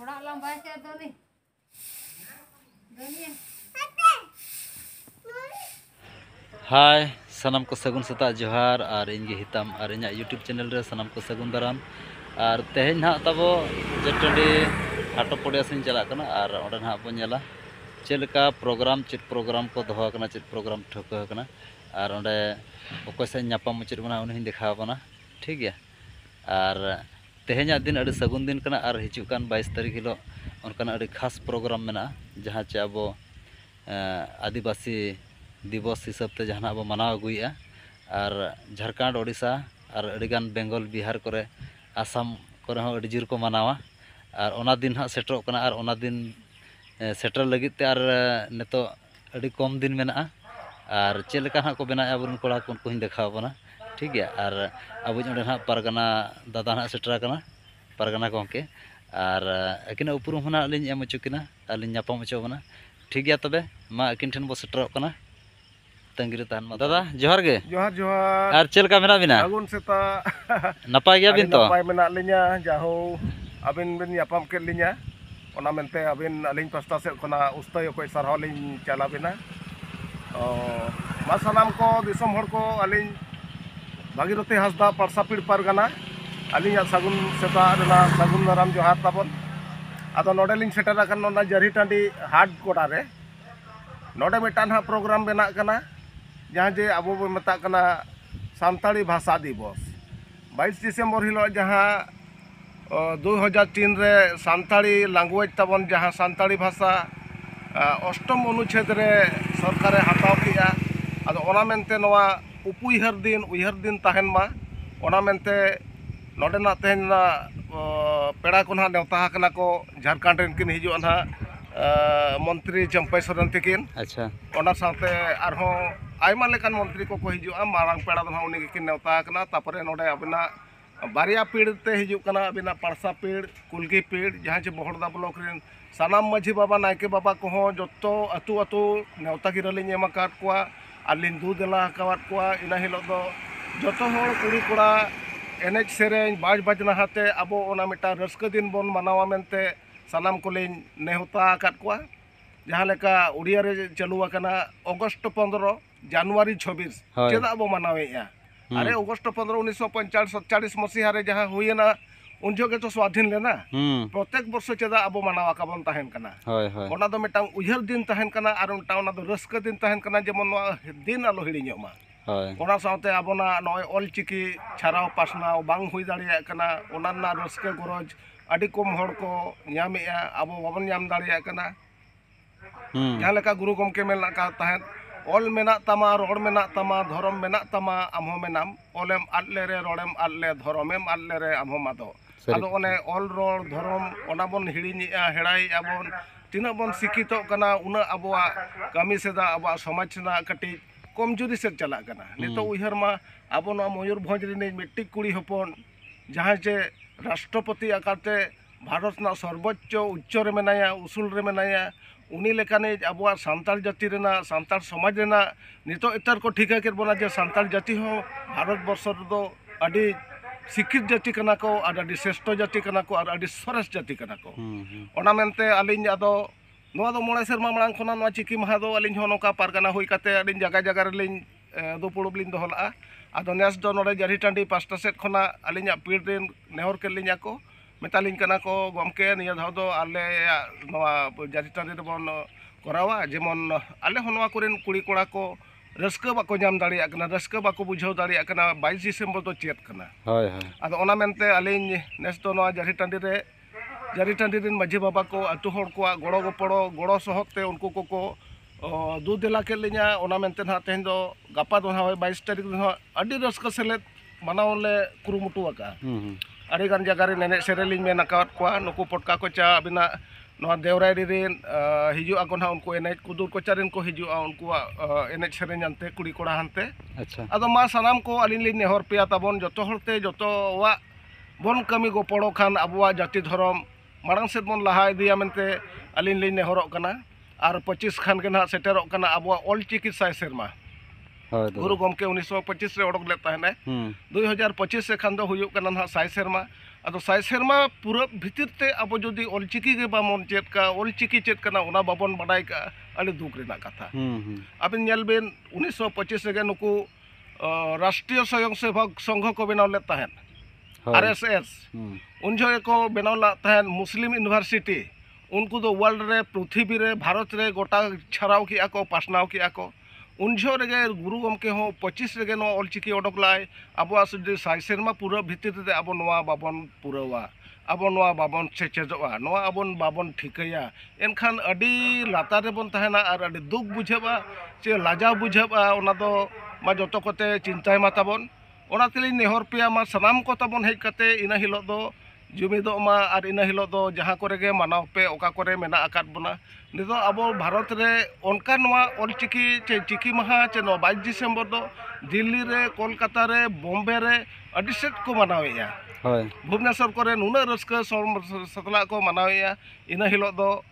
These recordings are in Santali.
ᱚᱲᱟᱜ ᱞᱟᱝ ᱵᱟᱭ ᱠᱮᱫ ᱫᱚ ᱩᱱᱤ ᱦᱟᱭ ᱥᱟᱱᱟᱢ ᱠᱚ ᱥᱟᱹᱜᱩᱱ ᱥᱮᱛᱟᱜ ᱡᱚᱦᱟᱨ ᱟᱨ ᱤᱧ ᱜᱮ ᱦᱤᱛᱟᱢ ᱟᱨ ᱤᱧᱟᱹᱜ ᱤᱭᱩᱴᱩᱵᱽ ᱪᱮᱱᱮᱞ ᱨᱮ ᱥᱟᱱᱟᱢ ᱠᱚ ᱥᱟᱹᱜᱩᱱ ᱫᱟᱨᱟᱢ ᱟᱨ ᱛᱮᱦᱮᱧ ᱦᱟᱸᱜ ᱛᱟᱵᱚ ᱡᱮᱴᱟᱹᱰᱤ ᱦᱟᱴᱚ ᱯᱚᱲᱤᱭᱟ ᱥᱮᱧ ᱪᱟᱞᱟᱜ ᱠᱟᱱᱟ ᱟᱨ ᱚᱸᱰᱮ ᱦᱟᱸᱜ ᱵᱚᱱ ᱧᱮᱞᱟ ᱪᱮᱫ ᱞᱮᱠᱟ ᱯᱨᱳᱜᱨᱟᱢ ᱪᱮᱫ ᱯᱨᱳᱜᱨᱟᱢ ᱠᱚ ᱫᱚᱦᱚ ᱟᱠᱟᱱᱟ ᱪᱮᱫ ᱯᱨᱳᱜᱨᱟᱢ ᱴᱷᱟᱹᱣᱠᱟᱹ ᱟᱠᱟᱱᱟ ᱟᱨ ᱚᱸᱰᱮ ᱚᱠᱚᱭ ᱥᱟᱶ ᱧᱟᱯᱟᱢ ᱢᱩᱪᱟᱹᱫ ᱵᱚᱱᱟ ᱩᱱᱤ ᱦᱚᱸᱧ ᱫᱮᱠᱷᱟᱣ ᱟᱵᱚᱱᱟ ᱴᱷᱤᱠ ᱜᱮᱭᱟ ᱟᱨ ᱛᱮᱦᱮᱧᱟᱜ ᱫᱤᱱ ᱟᱹᱰᱤ ᱥᱟᱹᱜᱩᱱ ᱫᱤᱱ ᱠᱟᱱᱟ ᱟᱨ ᱦᱤᱡᱩᱜ ᱠᱟᱱ ᱵᱟᱭᱤᱥ ᱛᱟᱹᱨᱤᱠᱷ ᱦᱤᱞᱳᱜ ᱚᱱᱠᱟᱱᱟᱜ ᱟᱹᱰᱤ ᱠᱷᱟᱥ ᱯᱨᱳᱜᱨᱟᱢ ᱢᱮᱱᱟᱜᱼᱟ ᱡᱟᱦᱟᱸ ᱪᱮ ᱟᱵᱚ ᱟᱹᱫᱤᱵᱟᱹᱥᱤ ᱫᱤᱵᱚᱥ ᱦᱤᱥᱟᱹᱵᱽ ᱛᱮ ᱡᱟᱦᱟᱱᱟᱜ ᱵᱚᱱ ᱢᱟᱱᱟᱣ ᱟᱹᱜᱩᱭᱮᱫᱼᱟ ᱟᱨ ᱡᱷᱟᱲᱠᱷᱚᱸᱰ ᱳᱰᱤᱥᱟ ᱟᱨ ᱟᱹᱰᱤᱜᱟᱱ ᱵᱮᱝᱜᱚᱞ ᱵᱤᱦᱟᱨ ᱠᱚᱨᱮᱜ ᱟᱥᱟᱢ ᱠᱚᱨᱮ ᱦᱚᱸ ᱟᱹᱰᱤ ᱡᱳᱨ ᱠᱚ ᱢᱟᱱᱟᱣᱟ ᱟᱨ ᱚᱱᱟ ᱫᱤᱱ ᱦᱟᱸᱜ ᱥᱮᱴᱮᱨᱚᱜ ᱠᱟᱱᱟ ᱟᱨ ᱚᱱᱟ ᱫᱤᱱ ᱥᱮᱴᱮᱨ ᱞᱟᱹᱜᱤᱫ ᱛᱮ ᱟᱨ ᱱᱤᱛᱚᱜ ᱟᱹᱰᱤ ᱠᱚᱢ ᱫᱤᱱ ᱢᱮᱱᱟᱜᱼᱟ ᱟᱨ ᱪᱮᱫ ᱞᱮᱠᱟ ᱦᱟᱸᱜ ᱠᱚ ᱵᱮᱱᱟᱣᱮᱫᱼᱟ ᱟᱵᱚ ᱨᱮᱱ ᱠᱚᱲᱟ ᱠᱚ ᱩᱱᱠᱩ ᱦᱚᱧ ᱫᱮᱠᱷᱟᱣ ᱟᱵᱚᱱᱟ ᱴᱷᱤᱠ ᱜᱮᱭᱟ ᱟᱨ ᱟᱵᱚᱭᱤᱡ ᱚᱸᱰᱮ ᱦᱟᱸᱜ ᱯᱟᱨᱜᱟᱱᱟ ᱫᱟᱫᱟ ᱦᱟᱸᱜ ᱥᱮᱴᱮᱨ ᱟᱠᱟᱱᱟ ᱯᱟᱨᱜᱟᱱᱟ ᱜᱚᱢᱠᱮ ᱟᱨ ᱟᱹᱠᱤᱱᱟᱜ ᱩᱯᱨᱩᱢ ᱦᱚᱸ ᱦᱟᱸᱜ ᱞᱤᱧ ᱮᱢ ᱦᱚᱪᱚ ᱠᱤᱱᱟ ᱟᱨ ᱞᱤᱧ ᱧᱟᱯᱟᱢ ᱦᱚᱪᱚ ᱵᱚᱱᱟ ᱴᱷᱤᱠ ᱜᱮᱭᱟ ᱛᱚᱵᱮ ᱢᱟ ᱟᱹᱠᱤᱱ ᱴᱷᱮᱱ ᱵᱚᱱ ᱥᱮᱴᱮᱨᱚᱜ ᱠᱟᱱᱟ ᱛᱟᱺᱜᱤ ᱨᱮ ᱛᱟᱦᱮᱱ ᱢᱟ ᱫᱟᱫᱟ ᱡᱚᱦᱟᱨ ᱜᱮ ᱡᱚᱦᱟᱨ ᱡᱚᱦᱟᱨ ᱟᱨ ᱪᱮᱫ ᱞᱮᱠᱟ ᱢᱮᱱᱟᱜ ᱵᱤᱱᱟ ᱥᱟᱹᱜᱩᱱ ᱥᱮᱛᱟᱜ ᱱᱟᱯᱟᱭ ᱜᱮᱭᱟᱵᱤᱱ ᱛᱚ ᱱᱟᱯᱟᱭ ᱢᱮᱱᱟᱜ ᱞᱤᱧᱟ ᱡᱟᱭᱦᱳᱠ ᱟᱹᱵᱤᱱ ᱵᱤᱱ ᱧᱟᱯᱟᱢ ᱠᱮᱫ ᱞᱤᱧᱟ ᱚᱱᱟ ᱢᱮᱱᱛᱮ ᱟᱹᱵᱤᱱ ᱟᱹᱞᱤᱧ ᱯᱟᱥᱴᱟ ᱥᱮᱫ ᱠᱷᱚᱱᱟᱜ ᱩᱥᱛᱟᱹᱭ ᱚᱠᱚᱭ ᱥᱟᱨᱦᱟᱣ ᱞᱤᱧ ᱪᱟᱞ ᱟᱵᱤᱱᱟ ᱢᱟ ᱥᱟᱱᱟᱢ ᱠᱚ ᱫᱤᱥᱚᱢ ᱦᱚᱲ ᱠᱚ ᱟᱹᱞᱤᱧ ᱵᱷᱟᱜᱤᱨᱚᱛᱤ ᱦᱟᱸᱥᱫᱟ ᱯᱟᱨᱥᱟᱯᱤᱲ ᱯᱟᱨᱜᱟᱱᱟ ᱟᱹᱞᱤᱧᱟᱜ ᱥᱟᱹᱜᱩᱱ ᱥᱮᱛᱟᱜ ᱨᱮᱱᱟᱜ ᱥᱟᱹᱜᱩᱱ ᱫᱟᱨᱟᱢ ᱡᱚᱦᱟᱨ ᱛᱟᱵᱚᱱ ᱟᱫᱚ ᱱᱚᱰᱮ ᱞᱤᱧ ᱥᱮᱴᱮᱨ ᱟᱠᱟᱱ ᱱᱚᱰᱮ ᱡᱟᱹᱨᱤ ᱴᱟᱺᱰᱤ ᱦᱟᱴ ᱜᱚᱰᱟ ᱨᱮ ᱱᱚᱰᱮ ᱢᱤᱫᱴᱟᱝ ᱦᱟᱸᱜ ᱯᱨᱳᱜᱨᱟᱢ ᱵᱮᱱᱟᱜ ᱠᱟᱱᱟ ᱡᱟᱦᱟᱸ ᱡᱮ ᱟᱵᱚ ᱵᱚᱱ ᱢᱮᱛᱟᱜ ᱠᱟᱱᱟ ᱥᱟᱱᱛᱟᱲᱤ ᱵᱷᱟᱥᱟ ᱫᱤᱵᱚᱥ ᱵᱟᱭᱤᱥ ᱰᱤᱥᱮᱢᱵᱚᱨ ᱦᱤᱞᱳᱜ ᱡᱟᱦᱟᱸ ᱫᱩ ᱦᱟᱡᱟᱨ ᱛᱤᱱ ᱨᱮ ᱥᱟᱱᱛᱟᱲᱤ ᱞᱟᱝᱜᱩᱭᱮᱡᱽ ᱛᱟᱵᱚᱱ ᱡᱟᱦᱟᱸ ᱥᱟᱱᱛᱟᱲᱤ ᱵᱷᱟᱥᱟ ᱚᱥᱴᱚᱢ ᱚᱱᱩᱪᱷᱮᱫ ᱨᱮ ᱥᱚᱨᱠᱟᱨᱮ ᱦᱟᱛᱟᱣ ᱠᱮᱜᱼᱟ ᱟᱫᱚ ᱚᱱᱟ ᱢᱮᱱᱛᱮ ᱱᱚᱣᱟ ᱩᱯᱩᱭᱦᱟᱹᱨ ᱫᱤᱱ ᱩᱭᱦᱟᱹᱨ ᱫᱤᱱ ᱛᱟᱦᱮᱱ ᱢᱟ ᱚᱱᱟ ᱢᱮᱱᱛᱮ ᱱᱚᱰᱮᱱᱟᱜ ᱛᱮᱦᱮᱧ ᱯᱮᱲᱟ ᱠᱚ ᱱᱟᱦᱟᱜ ᱱᱮᱣᱛᱟ ᱟᱠᱟᱱᱟ ᱠᱚ ᱡᱷᱟᱲᱠᱷᱚᱸᱰ ᱨᱮᱱ ᱠᱤᱱ ᱦᱤᱡᱩᱜᱼᱟ ᱱᱟᱦᱟᱜ ᱢᱚᱱᱛᱨᱤ ᱪᱟᱢᱯᱟᱭ ᱥᱚᱨᱮᱱ ᱛᱤᱠᱤᱱ ᱟᱪᱪᱷᱟ ᱚᱱᱟ ᱥᱟᱶᱛᱮ ᱟᱨᱦᱚᱸ ᱟᱭᱢᱟ ᱞᱮᱠᱟᱱ ᱢᱚᱱᱛᱨᱤ ᱠᱚᱠᱚ ᱦᱤᱡᱩᱜᱼᱟ ᱢᱟᱨᱟᱝ ᱯᱮᱲᱟ ᱫᱚ ᱱᱟᱦᱟᱜ ᱩᱱᱤ ᱜᱮᱠᱤᱱ ᱱᱮᱣᱛᱟ ᱟᱠᱟᱱᱟ ᱛᱟᱨᱯᱚᱨᱮ ᱱᱚᱰᱮ ᱟᱵᱮᱱᱟᱜ ᱵᱟᱨᱭᱟ ᱯᱤᱲ ᱛᱮ ᱦᱤᱡᱩᱜ ᱠᱟᱱᱟ ᱟᱵᱤᱱᱟᱜ ᱯᱟᱲᱥᱟ ᱯᱤᱲ ᱠᱩᱞᱜᱤ ᱯᱤᱲ ᱡᱟᱦᱟᱸ ᱪᱮ ᱵᱚᱦᱚᱲᱫᱟ ᱵᱞᱚᱠ ᱨᱮᱱ ᱥᱟᱱᱟᱢ ᱢᱟᱹᱡᱷᱤ ᱵᱟᱵᱟ ᱱᱟᱭᱠᱮ ᱵᱟᱵᱟ ᱠᱚᱦᱚᱸ ᱡᱚᱛᱚ ᱟᱹᱛᱩ ᱟᱹᱛᱩ ᱱᱮᱣᱛᱟ ᱜᱤᱨᱟᱹ ᱞᱤᱧ ᱮᱢ ᱟᱠᱟᱫ ᱠᱚᱣᱟ ᱟᱨ ᱞᱤᱧ ᱫᱩ ᱫᱮᱞᱟ ᱟᱠᱟᱫ ᱠᱚᱣᱟ ᱤᱱᱟᱹ ᱦᱤᱞᱳᱜ ᱫᱚ ᱡᱚᱛᱚ ᱦᱚᱲ ᱠᱩᱲᱤ ᱠᱚᱲᱟ ᱮᱱᱮᱡ ᱥᱮᱨᱮᱧ ᱵᱟᱡᱽ ᱵᱟᱡᱽᱱᱟ ᱟᱛᱮ ᱟᱵᱚ ᱚᱱᱟ ᱢᱤᱫᱴᱟᱝ ᱨᱟᱹᱥᱠᱟᱹ ᱫᱤᱱ ᱵᱚᱱ ᱢᱟᱱᱟᱣᱟ ᱢᱮᱱᱛᱮ ᱥᱟᱱᱟᱢ ᱠᱚᱞᱤᱧ ᱱᱮᱣᱛᱟ ᱟᱠᱟᱫ ᱠᱚᱣᱟ ᱡᱟᱦᱟᱸ ᱞᱮᱠᱟ ᱩᱰᱤᱭᱟ ᱨᱮ ᱪᱟᱹᱞᱩ ᱟᱠᱟᱱᱟ ᱚᱜᱚᱥᱴ ᱯᱚᱸᱫᱽᱨᱚ ᱡᱟᱱᱩᱣᱟᱨᱤ ᱪᱷᱚᱵᱤᱥ ᱪᱮᱫᱟᱜ ᱵᱚ ᱢᱟᱱᱟᱣᱮᱫᱼᱟ ᱟᱨᱮ ᱚᱜᱚᱥᱴ ᱯᱚᱱᱫᱨᱚ ᱩᱱᱤᱥᱥᱚ ᱯᱚᱧᱪᱟᱥ ᱥᱚᱛᱪᱟᱞᱤᱥ ᱢᱚᱥᱤᱦᱟ ᱨᱮ ᱡᱟᱦᱟᱸ ᱦᱩᱭᱮᱱᱟ ᱩᱱ ᱡᱚᱠᱷᱚᱱ ᱜᱮᱛᱚ ᱥᱣᱟᱫᱷᱤᱱ ᱞᱮᱱᱟ ᱯᱨᱚᱛᱮᱠ ᱵᱚᱨᱥᱚ ᱪᱮᱫᱟᱜ ᱟᱵᱚ ᱢᱟᱱᱟᱣ ᱟᱠᱟ ᱵᱚᱱ ᱛᱟᱦᱮᱱ ᱠᱟᱱᱟ ᱚᱱᱟ ᱫᱚ ᱢᱤᱫᱴᱟᱝ ᱩᱭᱦᱟᱹᱨ ᱫᱤᱱ ᱛᱟᱦᱮᱱ ᱠᱟᱱᱟ ᱟᱨ ᱢᱤᱫᱴᱟᱝ ᱚᱱᱟ ᱫᱚ ᱨᱟᱹᱥᱠᱟᱹ ᱫᱤᱱ ᱛᱟᱦᱮᱱ ᱠᱟᱱᱟ ᱡᱮᱢᱚᱱ ᱱᱚᱣᱟ ᱫᱤᱱ ᱟᱞᱚ ᱦᱤᱲᱤᱧᱚᱜ ᱢᱟ ᱚᱱᱟ ᱥᱟᱶᱛᱮ ᱟᱵᱚᱱᱟᱜ ᱱᱚᱜᱼᱚᱭ ᱚᱞ ᱪᱤᱠᱤ ᱪᱷᱟᱨᱟᱣ ᱯᱟᱥᱱᱟᱣ ᱵᱟᱝ ᱦᱩᱭ ᱫᱟᱲᱮᱭᱟᱜ ᱠᱟᱱᱟ ᱚᱱᱟ ᱨᱮᱱᱟᱜ ᱨᱟᱹᱥᱠᱟᱹ ᱜᱚᱨᱚᱡᱽ ᱟᱹᱰᱤ ᱠᱚᱢ ᱦᱚᱲ ᱠᱚ ᱧᱟᱢᱮᱫᱼᱟ ᱟᱵᱚ ᱵᱟᱵᱚᱱ ᱧᱟᱢ ᱫᱟᱲᱮᱭᱟᱜ ᱠᱟᱱᱟ ᱡᱟᱦᱟᱸ ᱞᱮᱠᱟ ᱜᱩᱨᱩ ᱜᱚᱢᱠᱮ ᱢᱮᱱ ᱞᱟᱜ ᱠᱟᱱ ᱛᱟᱦᱮᱸᱫ ᱚᱞ ᱢᱮᱱᱟᱜ ᱛᱟᱢᱟ ᱨᱚᱲ ᱢᱮᱱᱟᱜ ᱛᱟᱢᱟ ᱫᱷᱚᱨᱚᱢ ᱢᱮᱱᱟᱜ ᱛᱟᱢᱟ ᱟᱢ ᱦᱚᱸ ᱢᱮᱱᱟᱢ ᱚᱞᱮᱢ ᱟᱫ ᱞᱮᱨᱮ ᱨᱚᱲᱮᱢ ᱟᱫ ᱞᱮ ᱫᱷᱚᱨᱚᱢᱮᱢ ᱟᱫ ᱞᱮᱨᱮ ᱟᱢ ᱦᱚᱸᱢ ᱟᱫᱚᱜ ᱟᱫᱚ ᱚᱱᱮ ᱚᱞ ᱨᱚᱲ ᱫᱷᱚᱨᱚᱢ ᱚᱱᱟ ᱵᱚᱱ ᱦᱤᱲᱤᱧᱮᱜᱼᱟ ᱦᱮᱲᱟᱭᱮᱜᱼᱟ ᱵᱚᱱ ᱛᱤᱱᱟᱹᱜ ᱵᱚᱱ ᱥᱤᱠᱠᱷᱤᱛᱚᱜ ᱠᱟᱱᱟ ᱩᱱᱟᱹᱜ ᱟᱵᱚᱣᱟᱜ ᱠᱟᱹᱢᱤ ᱥᱮᱫᱟ ᱟᱵᱚᱣᱟᱜ ᱥᱚᱢᱟᱡᱽ ᱨᱮᱱᱟᱜ ᱠᱟᱹᱴᱤᱡ ᱠᱚᱢᱡᱩᱨᱤ ᱥᱮᱫ ᱪᱟᱞᱟᱜ ᱠᱟᱱᱟ ᱱᱤᱛᱚᱜ ᱩᱭᱦᱟᱹᱨ ᱢᱟ ᱟᱵᱚ ᱱᱚᱣᱟ ᱢᱚᱭᱩᱨᱵᱷᱚᱸᱡᱽ ᱨᱤᱱᱤᱡ ᱢᱤᱫᱴᱤᱡ ᱠᱩᱲᱤ ᱦᱚᱯᱚᱱ ᱡᱟᱦᱟᱸᱭ ᱪᱮ ᱨᱟᱥᱴᱨᱚᱯᱚᱛᱤ ᱟᱠᱟᱨᱛᱮ ᱵᱷᱟᱨᱚᱛ ᱨᱮᱱᱟᱜ ᱥᱚᱨᱵᱚᱪᱪᱚ ᱩᱪᱪᱚ ᱨᱮ ᱢᱮᱱᱟᱭᱟ ᱩᱥᱩᱞ ᱨᱮ ᱢᱮᱱᱟᱭᱟ ᱩᱱᱤ ᱞᱮᱠᱟᱱᱤᱡ ᱟᱵᱚᱣᱟᱜ ᱥᱟᱱᱛᱟᱲ ᱡᱟᱹᱛᱤ ᱨᱮᱱᱟᱜ ᱥᱟᱱᱛᱟᱲ ᱥᱚᱢᱟᱡᱽ ᱨᱮᱱᱟᱜ ᱱᱤᱛᱚᱜ ᱱᱮᱛᱟᱨ ᱠᱚ ᱴᱷᱤᱠᱟᱹ ᱠᱮᱫ ᱵᱚᱱᱟ ᱡᱮ ᱥᱟᱱᱛᱟᱲ ᱡᱟᱹᱛᱤ ᱦᱚᱸ ᱵᱷᱟᱨᱚᱛ ᱵᱚᱨᱥᱚ ᱨᱮᱫᱚ ᱟᱹᱰᱤ ᱥᱤᱠᱠᱷᱤᱛ ᱡᱟᱹᱛᱤ ᱠᱟᱱᱟ ᱠᱚ ᱟᱨ ᱟᱹᱰᱤ ᱥᱨᱮᱥᱴᱷᱚ ᱡᱟᱹᱛᱤ ᱠᱟᱱᱟ ᱠᱚ ᱟᱨ ᱟᱹᱰᱤ ᱥᱚᱨᱮᱥ ᱡᱟᱹᱛᱤ ᱠᱟᱱᱟ ᱠᱚ ᱚᱱᱟ ᱢᱮᱱᱛᱮ ᱟᱹᱞᱤᱧ ᱟᱫᱚ ᱱᱚᱣᱟ ᱫᱚ ᱢᱚᱬᱮ ᱥᱮᱨᱢᱟ ᱢᱟᱲᱟᱝ ᱠᱷᱚᱱᱟᱜ ᱱᱚᱣᱟ ᱪᱤᱠᱤ ᱢᱟᱦᱟ ᱫᱚ ᱟᱹᱞᱤᱧ ᱦᱚᱸ ᱱᱚᱝᱠᱟ ᱯᱟᱨᱜᱟᱱᱟ ᱦᱩᱭ ᱠᱟᱛᱮᱫ ᱟᱹᱞᱤᱧ ᱡᱟᱭᱜᱟ ᱡᱟᱭᱜᱟ ᱨᱮᱞᱤᱧ ᱫᱩᱯᱩᱲᱩᱵ ᱞᱤᱧ ᱫᱚᱦᱚ ᱞᱟᱜᱼᱟ ᱟᱫᱚ ᱱᱮᱥ ᱫᱚ ᱱᱚᱰᱮ ᱡᱟᱹᱨᱤ ᱴᱟᱺᱰᱤ ᱯᱟᱥᱴᱟ ᱥᱮᱫ ᱠᱷᱚᱱᱟᱜ ᱟᱹᱞᱤᱧᱟᱜ ᱯᱤᱲ ᱨᱮᱱ ᱱᱮᱦᱚᱨ ᱠᱮᱫ ᱞᱤᱧᱟᱹ ᱠᱚ ᱢᱮᱛᱟᱞᱤᱧ ᱠᱟᱱᱟ ᱠᱚ ᱜᱚᱢᱠᱮ ᱱᱤᱭᱟᱹ ᱫᱷᱟᱣ ᱫᱚ ᱟᱞᱮᱭᱟᱜ ᱱᱚᱣᱟ ᱡᱟᱹᱨᱤ ᱴᱟᱺᱰᱤ ᱨᱮᱵᱚᱱ ᱠᱚᱨᱟᱣᱟ ᱡᱮᱢᱚᱱ ᱟᱞᱮ ᱦᱚᱸ ᱱᱚᱣᱟ ᱠᱚᱨᱮᱱ ᱠᱩᱲᱤ ᱠᱚᱲᱟ ᱠᱚ ᱨᱟᱹᱥᱠᱟᱹ ᱵᱟᱠᱚ ᱧᱟᱢ ᱫᱟᱲᱮᱭᱟᱜ ᱠᱟᱱᱟ ᱨᱟᱹᱥᱠᱟᱹ ᱵᱟᱠᱚ ᱵᱩᱡᱷᱟᱹᱣ ᱫᱟᱲᱮᱭᱟᱜ ᱠᱟᱱᱟ ᱵᱟᱭᱤᱥ ᱰᱤᱥᱮᱢᱵᱚᱨ ᱫᱚ ᱪᱮᱫ ᱠᱟᱱᱟ ᱟᱫᱚ ᱚᱱᱟ ᱢᱮᱱᱛᱮ ᱟᱹᱞᱤᱧ ᱱᱮᱥ ᱫᱚ ᱱᱚᱣᱟ ᱡᱟᱹᱨᱤ ᱴᱟᱺᱰᱤ ᱨᱮ ᱡᱟᱹᱨᱤ ᱴᱟᱺᱰᱤ ᱨᱮᱱ ᱢᱟᱹᱡᱷᱤ ᱵᱟᱵᱟ ᱠᱚ ᱟᱹᱛᱩ ᱦᱚᱲ ᱠᱚᱣᱟᱜ ᱜᱚᱲᱚ ᱜᱚᱯᱚᱲᱚ ᱜᱚᱲᱚ ᱥᱚᱦᱚᱫ ᱛᱮ ᱩᱱᱠᱩ ᱠᱚᱠᱚ ᱫᱩ ᱫᱮᱞᱟ ᱠᱮᱫ ᱞᱤᱧᱟ ᱚᱱᱟ ᱢᱮᱱᱛᱮ ᱱᱟᱦᱟᱜ ᱛᱮᱦᱮᱧ ᱫᱚ ᱜᱟᱯᱟ ᱫᱚ ᱱᱟᱦᱟᱜ ᱵᱟᱭᱤᱥ ᱛᱟᱹᱨᱤᱠᱷ ᱫᱚ ᱱᱟᱦᱟᱜ ᱟᱹᱰᱤ ᱨᱟᱹᱥᱠᱟᱹ ᱥᱮᱞᱮᱫ ᱢᱟᱱᱟᱣ ᱞᱮ ᱠᱩᱨᱩᱢᱩᱴᱩ ᱟᱠᱟᱜᱼᱟ ᱟᱹᱰᱤ ᱜᱟᱱ ᱡᱟᱭᱜᱟ ᱨᱮ ᱮᱱᱮᱡ ᱥᱮᱨᱮᱧ ᱞᱤᱧ ᱢᱮᱱ ᱟᱠᱟᱫ ᱠᱚᱣᱟ ᱱᱩᱠᱩ ᱯᱚᱴᱠᱟ ᱠᱚᱪᱟ ᱟᱹᱵᱤᱱᱟᱜ ᱱᱚᱣᱟ ᱫᱮᱣᱨᱟᱭᱰᱤ ᱨᱮᱱ ᱦᱤᱡᱩᱜ ᱟᱠᱚ ᱱᱟᱦᱟᱜ ᱩᱱᱠᱩ ᱮᱱᱮᱡ ᱠᱩᱫᱩᱨ ᱠᱚᱪᱟ ᱨᱮᱱ ᱠᱚ ᱦᱤᱡᱩᱜᱼᱟ ᱩᱱᱠᱩᱣᱟᱜ ᱮᱱᱮᱡ ᱥᱮᱨᱮᱧ ᱟᱱᱛᱮ ᱠᱩᱲᱤ ᱠᱚᱲᱟ ᱦᱟᱱᱛᱮ ᱟᱫᱚ ᱢᱟ ᱥᱟᱱᱟᱢ ᱠᱚ ᱟᱹᱞᱤᱧ ᱞᱤᱧ ᱱᱮᱦᱚᱨ ᱯᱮᱭᱟ ᱛᱟᱵᱚᱱ ᱡᱚᱛᱚ ᱦᱚᱲᱛᱮ ᱡᱚᱛᱚᱣᱟᱜ ᱵᱚᱱ ᱠᱟᱹᱢᱤ ᱜᱚᱯᱚᱲᱚ ᱠᱷᱟᱱ ᱟᱵᱚᱣᱟᱜ ᱡᱟᱹᱛᱤ ᱫᱷᱚᱨᱚᱢ ᱢᱟᱲᱟᱝ ᱥᱮᱫ ᱵᱚᱱ ᱞᱟᱦᱟ ᱤᱫᱤᱭᱟ ᱢᱮᱱᱛᱮ ᱟᱹᱞᱤᱧ ᱞᱤᱧ ᱱᱮᱦᱚᱨᱚᱜ ᱠᱟᱱᱟ ᱟᱨ ᱯᱚᱸᱪᱤᱥ ᱠᱷᱟᱱ ᱜᱮ ᱱᱟᱦᱟᱜ ᱥᱮᱴᱮᱨᱚᱜ ᱠᱟᱱᱟ ᱟᱵᱚᱣᱟᱜ ᱚᱞᱪᱤᱠᱤ ᱥᱟᱭ ᱥᱮᱨᱢᱟ ᱦᱳᱭ ᱫᱟᱫᱟ ᱜᱩᱨᱩ ᱜᱚᱢᱠᱮ ᱩᱱᱤᱥᱥᱚ ᱯᱚᱸᱪᱤᱥ ᱨᱮ ᱚᱰᱚᱠ ᱞᱮᱫ ᱛᱟᱦᱮᱱᱟᱭ ᱦᱩᱸ ᱫᱩᱭ ᱦᱟᱡᱟᱨ ᱯᱚᱸᱪᱤᱥ ᱥᱮᱠᱷᱟᱱ ᱫᱚ ᱦᱩᱭᱩᱜ ᱠᱟᱱᱟ ᱱᱟᱦᱟᱜ ᱥᱟᱭ ᱥᱮᱨᱢᱟ ᱟᱫᱚ ᱥᱟᱭ ᱥᱮᱨᱢᱟ ᱯᱩᱨᱟᱹ ᱵᱷᱤᱛᱤᱨ ᱛᱮ ᱟᱵᱚ ᱡᱩᱫᱤ ᱚᱞᱪᱤᱠᱤ ᱜᱮ ᱵᱟᱵᱚᱱ ᱪᱮᱫ ᱠᱟᱜᱼᱟ ᱚᱞᱪᱤᱠᱤ ᱪᱮᱫ ᱠᱟᱱᱟ ᱚᱱᱟ ᱵᱟᱵᱚᱱ ᱵᱟᱰᱟᱭ ᱠᱟᱜᱼᱟ ᱟᱹᱰᱤ ᱫᱩᱠ ᱨᱮᱱᱟᱜ ᱠᱟᱛᱷᱟ ᱦᱩᱸ ᱦᱩᱸ ᱟᱵᱮᱱ ᱧᱮᱞ ᱵᱮᱱ ᱩᱱᱤᱥᱥᱚ ᱯᱚᱸᱪᱤᱥ ᱨᱮᱜᱮ ᱱᱩᱠᱩ ᱨᱟᱥᱴᱨᱤᱭᱚ ᱥᱚᱭᱚᱝ ᱥᱮᱵᱚᱠ ᱥᱚᱝᱜᱷᱚ ᱠᱚ ᱵᱮᱱᱟᱣ ᱞᱮᱫ ᱛᱟᱦᱮᱸᱫ ᱟᱨ ᱮᱥ ᱮᱥ ᱩᱱ ᱡᱚᱠᱷᱚᱱ ᱠᱚ ᱵᱮᱱᱟᱣ ᱞᱮᱫ ᱛᱟᱦᱮᱸᱫ ᱢᱩᱥᱞᱤᱢ ᱤᱭᱩᱱᱤᱵᱷᱟᱨᱥᱤᱴᱤ ᱩᱱᱠᱩ ᱫᱚ ᱳᱣᱟᱨᱞᱰ ᱨᱮ ᱯᱨᱤᱛᱷᱤᱵᱤ ᱨᱮ ᱵᱷᱟᱨᱚᱛ ᱨᱮ ᱜᱚᱴᱟ ᱪᱷᱟᱨᱟᱣ ᱠᱮᱜᱼᱟ ᱠᱚ ᱯᱟᱥᱱᱟᱣ ᱠᱮᱜᱼᱟ ᱠᱚ ᱩᱱ ᱡᱚᱠᱷᱚᱱ ᱨᱮᱜᱮ ᱜᱩᱨᱩ ᱜᱚᱢᱠᱮ ᱦᱚᱸ ᱯᱚᱸᱪᱤᱥ ᱨᱮᱜᱮ ᱱᱚᱣᱟ ᱚᱞᱪᱤᱠᱤ ᱚᱰᱚᱠ ᱞᱮᱫᱟᱭ ᱟᱵᱚᱣᱟᱜ ᱥᱟᱭ ᱥᱮᱨᱢᱟ ᱯᱩᱨᱟᱹᱣ ᱵᱷᱤᱛᱤᱨ ᱨᱮ ᱟᱵᱚ ᱱᱚᱣᱟ ᱵᱟᱵᱚᱱ ᱯᱩᱨᱟᱹᱣᱟ ᱟᱵᱚ ᱱᱚᱣᱟ ᱵᱟᱵᱚᱱ ᱥᱮᱪᱮᱫᱚᱜᱼᱟ ᱱᱚᱣᱟ ᱟᱵᱚ ᱵᱟᱵᱚᱱ ᱴᱷᱤᱠᱟᱹᱭᱟ ᱮᱱᱠᱷᱟᱱ ᱟᱹᱰᱤ ᱞᱟᱛᱟᱨ ᱨᱮᱵᱚᱱ ᱛᱟᱦᱮᱱᱟ ᱟᱨ ᱟᱹᱰᱤ ᱫᱩᱠ ᱵᱩᱡᱷᱟᱹᱜᱼᱟ ᱥᱮ ᱞᱟᱡᱟᱣ ᱵᱩᱡᱷᱟᱹᱜᱼᱟ ᱚᱱᱟ ᱫᱚ ᱢᱟ ᱡᱚᱛᱚ ᱠᱚᱛᱮ ᱪᱤᱱᱛᱟᱹᱭ ᱢᱟ ᱛᱟᱵᱚᱱ ᱚᱱᱟ ᱛᱮᱞᱤᱧ ᱱᱮᱦᱚᱨ ᱯᱮᱭᱟ ᱢᱟ ᱥᱟᱱᱟᱢ ᱠᱚ ᱛᱟᱵᱚᱱ ᱦᱮᱡ ᱠᱟᱛᱮᱫ ᱤᱱᱟᱹ ᱦᱤᱞᱳᱜ ᱫᱚ ᱡᱩᱢᱤᱫᱚᱜ ᱢᱟ ᱟᱨ ᱤᱱᱟᱹ ᱦᱤᱞᱳᱜ ᱫᱚ ᱡᱟᱦᱟᱸ ᱠᱚᱨᱮ ᱜᱮ ᱢᱟᱱᱟᱣ ᱯᱮ ᱚᱠᱟ ᱠᱚᱨᱮ ᱢᱮᱱᱟᱜ ᱟᱠᱟᱫ ᱵᱚᱱᱟ ᱱᱤᱛᱚᱜ ᱟᱵᱚ ᱵᱷᱟᱨᱚᱛ ᱨᱮ ᱚᱱᱠᱟ ᱱᱚᱣᱟ ᱚᱞ ᱪᱤᱠᱤ ᱪᱮ ᱪᱤᱠᱤ ᱢᱟᱦᱟ ᱪᱮ ᱱᱚᱣᱟ ᱵᱟᱭᱤᱥ ᱰᱤᱥᱮᱢᱵᱚᱨ ᱫᱚ ᱫᱤᱞᱞᱤ ᱨᱮ ᱠᱳᱞᱠᱟᱛᱟ ᱨᱮ ᱵᱳᱢᱵᱮ ᱨᱮ ᱟᱹᱰᱤ ᱥᱮᱫ ᱠᱚ ᱢᱟᱱᱟᱣᱮᱜᱼᱟ ᱦᱳᱭ ᱵᱷᱩᱵᱽᱱᱮᱥᱚᱨ ᱠᱚᱨᱮ ᱱᱩᱱᱟᱹᱜ ᱨᱟᱹᱥᱠᱟᱹ ᱥᱚᱲᱚᱢ ᱥᱟᱛᱞᱟᱜ ᱠᱚ ᱢᱟᱱᱟᱣᱮᱜᱼᱟ ᱤᱱᱟᱹ ᱦᱤᱞᱳᱜ ᱫᱚ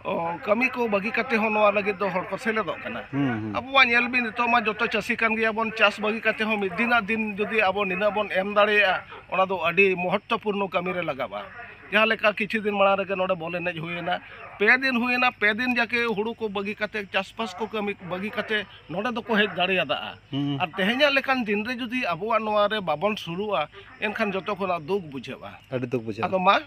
ᱚ, ᱠᱟᱹᱢᱤ ᱠᱚ ᱵᱟᱹᱜᱤ ᱠᱟᱛᱮ ᱦᱚᱸ ᱱᱚᱣᱟ ᱞᱟᱹᱜᱤᱫ ᱫᱚ ᱦᱚᱲ ᱠᱚ ᱥᱮᱞᱮᱫᱚᱜ ᱠᱟᱱᱟ ᱦᱩᱸ ᱦᱩᱸ ᱟᱵᱚᱣᱟᱜ ᱧᱮᱞ ᱵᱤᱱ ᱱᱤᱛᱚᱜ ᱢᱟ ᱡᱚᱛᱚ ᱪᱟᱹᱥᱤ ᱠᱟᱱ ᱜᱮᱭᱟᱵᱚᱱ ᱪᱟᱥ ᱵᱟᱹᱜᱤ ᱠᱟᱛᱮ ᱦᱚᱸ ᱢᱤᱫ ᱫᱤᱱᱟᱜ ᱫᱤᱱ ᱡᱩᱫᱤ ᱟᱵᱚ ᱱᱤᱱᱟᱹᱜ ᱵᱚᱱ ᱮᱢ ᱫᱟᱲᱮᱭᱟᱜᱼᱟ ᱚᱱᱟ ᱫᱚ ᱟᱹᱰᱤ ᱢᱚᱦᱚᱛᱛᱚᱯᱩᱨᱱᱚ ᱠᱟᱹᱢᱤᱨᱮ ᱞᱟᱜᱟᱜᱼᱟ ᱡᱟᱦᱟᱸ ᱞᱮᱠᱟ ᱠᱤᱪᱷᱩ ᱫᱤᱱ ᱢᱟᱲᱟᱝ ᱨᱮᱜᱮ ᱱᱚᱰᱮ ᱵᱚᱞ ᱮᱱᱮᱡ ᱦᱩᱭᱮᱱᱟ ᱯᱮ ᱫᱤᱱ ᱦᱩᱭᱮᱱᱟ ᱯᱮ ᱫᱤᱱ ᱡᱟᱠᱮ ᱦᱩᱲᱩ ᱠᱚ ᱵᱟᱹᱜᱤ ᱠᱟᱛᱮ ᱪᱟᱥᱵᱟᱥ ᱠᱚ ᱠᱟᱹᱢᱤ ᱵᱟᱹᱜᱤ ᱠᱟᱛᱮ ᱱᱚᱰᱮ ᱫᱚᱠᱚ ᱦᱮᱡ ᱫᱟᱲᱮᱭᱟᱫᱟ ᱟᱨ ᱛᱮᱦᱮᱧᱟᱜ ᱞᱮᱠᱟᱱ ᱫᱤᱱ ᱨᱮ ᱡᱩᱫᱤ ᱟᱵᱚᱣᱟᱜ ᱱᱚᱣᱟ ᱨᱮ ᱵᱟᱵᱚᱱ ᱥᱩᱨᱩᱜᱼᱟ ᱮᱱᱠᱷᱟᱱ ᱡᱚᱛᱚ ᱠᱷᱚᱱᱟᱜ ᱫᱩᱠ ᱵᱩᱡᱷᱟᱹᱜᱼᱟ ᱟᱹᱰᱤ ᱫᱩᱠ ᱵᱩᱡᱷᱟᱹᱜᱼᱟ ᱟᱫᱚ ᱢᱟ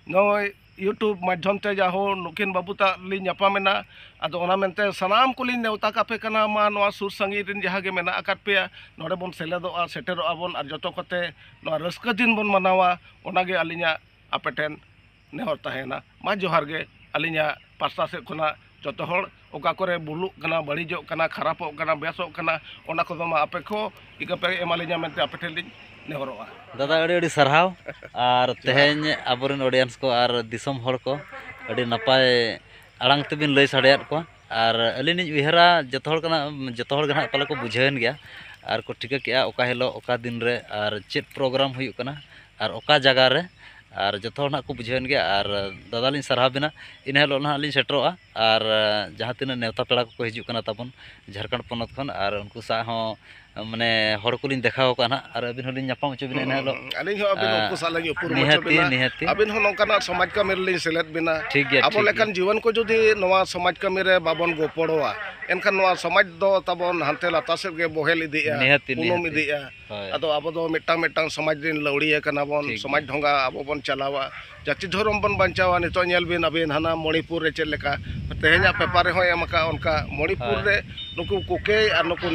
ᱱᱚᱜᱼᱚᱭ ᱤᱭᱩᱴᱩᱵᱽ ᱢᱟᱫᱽᱫᱷᱚᱢ ᱛᱮ ᱡᱟᱦᱳ ᱱᱩᱠᱤᱱ ᱵᱟᱹᱵᱩ ᱛᱟᱜ ᱞᱤᱧ ᱧᱟᱯᱟᱢᱮᱱᱟ ᱟᱫᱚ ᱚᱱᱟ ᱢᱮᱱᱛᱮ ᱥᱟᱱᱟᱢ ᱠᱚᱞᱤᱧ ᱱᱮᱣᱛᱟ ᱠᱟᱯᱮ ᱠᱟᱱᱟ ᱢᱟ ᱱᱚᱣᱟ ᱥᱩᱨ ᱥᱟᱺᱜᱤᱧ ᱨᱮᱱ ᱡᱟᱦᱟᱸ ᱜᱮ ᱢᱮᱱᱟᱜ ᱟᱠᱟᱫ ᱯᱮᱭᱟ ᱱᱚᱰᱮ ᱵᱚᱱ ᱥᱮᱞᱮᱫᱚᱜᱼᱟ ᱥᱮᱴᱮᱨᱚᱜᱼᱟ ᱵᱚᱱ ᱟᱨ ᱡᱚᱛᱚ ᱠᱚᱛᱮ ᱱᱚᱣᱟ ᱨᱟᱹᱥᱠᱟᱹ ᱫᱤᱱ ᱵᱚᱱ ᱢᱟᱱᱟᱣᱟ ᱚᱱᱟ ᱜᱮ ᱟᱹᱞᱤᱧᱟᱜ ᱟᱯᱮ ᱴᱷᱮᱱ ᱱᱮᱦᱚᱨ ᱛᱟᱦᱮᱸᱭᱮᱱᱟ ᱢᱟ ᱡᱚᱦᱟᱨ ᱜᱮ ᱟᱹᱞᱤᱧᱟᱜ ᱯᱟᱥᱴᱟ ᱥᱮᱫ ᱠᱷᱚᱱᱟᱜ ᱡᱚᱛᱚ ᱦᱚᱲ ᱚᱠᱟ ᱠᱚᱨᱮ ᱵᱷᱩᱞᱩᱜ ᱠᱟᱱᱟ ᱵᱟᱹᱲᱤᱡᱚᱜ ᱠᱟᱱᱟ ᱠᱷᱟᱨᱟᱯᱚᱜ ᱠᱟᱱᱟ ᱵᱮᱥᱚᱜ ᱠᱟᱱᱟ ᱚᱱᱟ ᱠᱚᱫᱚ ᱢᱟ ᱟᱯᱮ ᱠᱚ ᱤᱠᱟᱹ ᱯᱮ ᱮᱢᱟ ᱞᱤᱧᱟ ᱢᱮᱱᱛᱮ ᱟᱯᱮ ᱴᱷᱮᱱ ᱞᱤᱧ ᱱᱮᱦᱚᱨᱚᱜᱼᱟ ᱫᱟᱫᱟ ᱟᱹᱰᱤ ᱟᱹᱰᱤ ᱥᱟᱨᱦᱟᱣ ᱟᱨ ᱛᱮᱦᱮᱧ ᱟᱵᱚᱨᱮᱱ ᱚᱰᱤᱭᱮᱱᱥ ᱠᱚ ᱟᱨ ᱫᱤᱥᱚᱢ ᱦᱚᱲ ᱠᱚ ᱟᱹᱰᱤ ᱱᱟᱯᱟᱭ ᱟᱲᱟᱝ ᱛᱮᱵᱤᱱ ᱞᱟᱹᱭ ᱥᱟᱰᱮᱭᱟᱫ ᱠᱚᱣᱟ ᱟᱨ ᱟᱹᱞᱤᱧ ᱞᱤᱧ ᱩᱭᱦᱟᱹᱨᱟ ᱡᱚᱛᱚ ᱦᱚᱲ ᱠᱟᱱᱟ ᱡᱚᱛᱚ ᱦᱚᱲ ᱜᱮ ᱱᱟᱦᱟᱜ ᱯᱟᱞᱮ ᱠᱚ ᱵᱩᱡᱷᱟᱹᱣᱮᱱ ᱜᱮᱭᱟ ᱟᱨ ᱠᱚ ᱴᱷᱤᱠᱟᱹ ᱠᱮᱜᱼᱟ ᱚᱠᱟ ᱦᱤᱞᱳᱜ ᱚᱠᱟ ᱫᱤᱱ ᱨᱮ ᱟᱨ ᱪᱮᱫ ᱯᱨᱳᱜᱨᱟᱢ ᱦᱩᱭᱩᱜ ᱠᱟᱱᱟ ᱟᱨ ᱚᱠᱟ ᱡᱟᱭᱜᱟ ᱨᱮ ᱟᱨ ᱡᱚᱛᱚ ᱦᱚᱲ ᱱᱟᱦᱟᱜ ᱠᱚ ᱵᱩᱡᱷᱟᱹᱣᱮᱱ ᱜᱮᱭᱟ ᱟᱨ ᱫᱟᱫᱟ ᱞᱤᱧ ᱥᱟᱨᱦᱟᱣ ᱵᱮᱱᱟ ᱤᱱᱟᱹ ᱦᱤᱞᱳᱜ ᱱᱟᱦᱟᱜ ᱞᱤᱧ ᱥᱮᱴᱮᱨᱚᱜᱼᱟ ᱟᱨ ᱡᱟᱦᱟᱸ ᱛᱤᱱᱟᱹᱜ ᱱᱮᱶᱛᱟ ᱯᱮᱲᱟ ᱠᱚᱠᱚ ᱦᱤᱡᱩᱜ ᱠᱟᱱᱟ ᱛᱟᱵᱚᱱ ᱡᱷᱟᱲᱠᱷᱚᱸᱰ ᱯᱚᱱᱚᱛ ᱠᱷᱚᱱ ᱟᱨ ᱩᱱᱠᱩ ᱥᱟᱶ ᱦᱚᱸ ᱢᱟᱱᱮ ᱦᱚᱲ ᱠᱚᱞᱤᱧ ᱫᱮᱠᱷᱟᱣ ᱠᱚᱣᱟ ᱱᱟᱦᱟᱜ ᱟᱨ ᱟᱹᱵᱤᱱ ᱦᱚᱸᱞᱤᱧ ᱧᱟᱯᱟᱢ ᱦᱚᱪᱚ ᱵᱤᱱᱟ ᱮᱱ ᱦᱤᱞᱳᱜ ᱟᱹᱞᱤᱧ ᱦᱚᱸ ᱟᱹᱵᱤᱱ ᱩᱱᱠᱩ ᱥᱟᱞᱟᱜ ᱞᱤᱧ ᱩᱯᱨᱩᱢ ᱦᱚᱪᱚ ᱵᱤᱱᱟ ᱱᱤᱦᱟᱹᱛᱤ ᱟᱹᱵᱤᱱ ᱦᱚᱸ ᱱᱚᱝᱠᱟᱱᱟᱜ ᱥᱚᱢᱟᱡᱽ ᱠᱟᱹᱢᱤ ᱨᱮᱞᱤᱧ ᱥᱮᱞᱮᱫ ᱵᱤᱱᱟ ᱴᱷᱤᱠ ᱜᱮᱭᱟ ᱟᱵᱚ ᱞᱮᱠᱟᱱ ᱡᱩᱣᱟᱹᱱ ᱠᱚ ᱡᱩᱫᱤ ᱱᱚᱣᱟ ᱥᱚᱢᱟᱡᱽ ᱠᱟᱹᱢᱤ ᱨᱮ ᱵᱟᱵᱚᱱ ᱜᱚᱯᱚᱲᱚᱣᱟ ᱮᱱᱠᱷᱟᱱ ᱱᱚᱣᱟ ᱥᱚᱢᱟᱡᱽ ᱫᱚ ᱛᱟᱵᱚᱱ ᱦᱟᱱᱛᱮ ᱞᱟᱛᱟᱨ ᱥᱮᱫ ᱜᱮ ᱵᱚᱦᱮᱞ ᱤᱫᱤᱜᱼᱟ ᱱᱤᱦᱟᱹᱛᱤ ᱩᱱᱩᱢ ᱤᱫᱤᱜᱼᱟ ᱟᱫᱚ ᱟᱵᱚ ᱫᱚ ᱢᱤᱫᱴᱟᱝ ᱢᱤᱫᱴᱟᱝ ᱥᱚᱢᱟᱡᱽ ᱨᱮᱱ ᱞᱟᱹᱣᱲᱤᱭᱟᱹ ᱠᱟᱱᱟ ᱵᱚᱱ ᱥᱚᱢᱟᱡᱽ ᱰᱷᱚᱸᱜᱟ ᱟᱵᱚ ᱵᱚᱱ ᱪᱟᱞᱟᱣᱟ ᱡᱟᱹᱛᱤ ᱫᱷᱚᱨᱚᱢ ᱵᱚᱱ ᱵᱟᱧᱪᱟᱣᱟ ᱱᱤᱛᱚᱜ ᱧᱮᱞ ᱵᱤᱱ ᱟᱹᱵᱤᱱ ᱦᱟᱱᱟ ᱢᱚᱱᱤᱯᱩᱨ ᱨᱮ ᱪᱮᱫ ᱞᱮᱠᱟ ᱛᱮᱦᱮᱧᱟᱜ ᱯᱮᱯᱟᱨ ᱨᱮᱦᱚᱸᱭ ᱮᱢ ᱟᱠᱟᱫᱼᱟ ᱚᱱᱠᱟ ᱢᱚᱱᱤᱯᱩᱨ ᱨᱮ ᱱᱩᱠᱩ ᱠᱩᱠᱮ ᱟᱨ ᱱᱩᱠᱩ